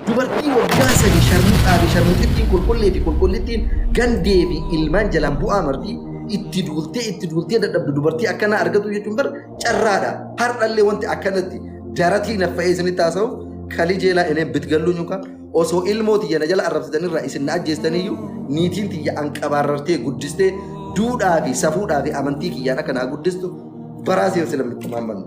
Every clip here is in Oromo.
Dubartii waggaa sadi sharmuxaa fi sharmuxittiin qulqullee fi qulqullittiin gandee fi ilmaan jalaan bu'aa marti itti duultee itti duultee dadhabdu dubartii akkanaa argatu jechuun bar carraadha har'allee wanti akkanatti jaratii naffa'ee isinitti haasa'u kalii jeelaa ineen bitgalluu nyuka osoo ilmoo tiyya na jala arrabsitanirraa isin na ajjeestaniyyuu niitiin tiyya an qabaarrartee guddistee duudhaa fi safuudhaa fi amantii kiyyaan akka naa guddistu baraa seensi lammitti maammannu.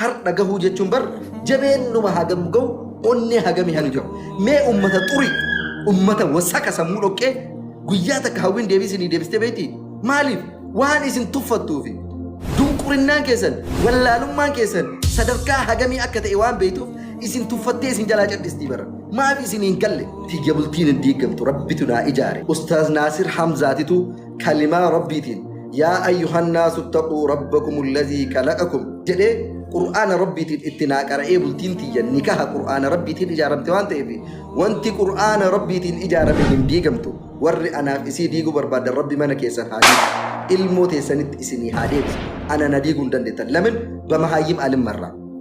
Hardha gahuu jechuun bar jabeennuma hagam gahu onnee hagami hali gahu. Mee ummata xuri ummata wasaka sammuu dhoqqee guyyaa takka hawwiin deebii isinii deebistee beekti. Maaliif waan isin tuffattuufi dunqurinnaan keessan wallaalummaan keessan sadarkaa hagamii akka ta'e waan beektuuf isin tuffattee isin jalaa cadhistii bara. Maaf isin hin galle? Tiyya bultiin hin diigamtu rabbitu naa ijaare. Ustaaz Naasir Hamzaatitu kalimaa rabbiitiin yaa ayyuhan naasu ittaquu rabbakum allazii kalaqakum jedhee qur'aana rabbiitiin itti naa qara'ee bultiin tiyya nikaha qur'aana rabbiitiin ijaaramte waan ta'eef wanti qur'aana rabbiitiin ijaarame hin diigamtu warri anaaf isii diiguu barbaadan rabbi mana keessan haa diigu ilmoo teessanitti isinii haa deebisu ana na diiguu hin dandeettan lamin bamahaayim alimmarraa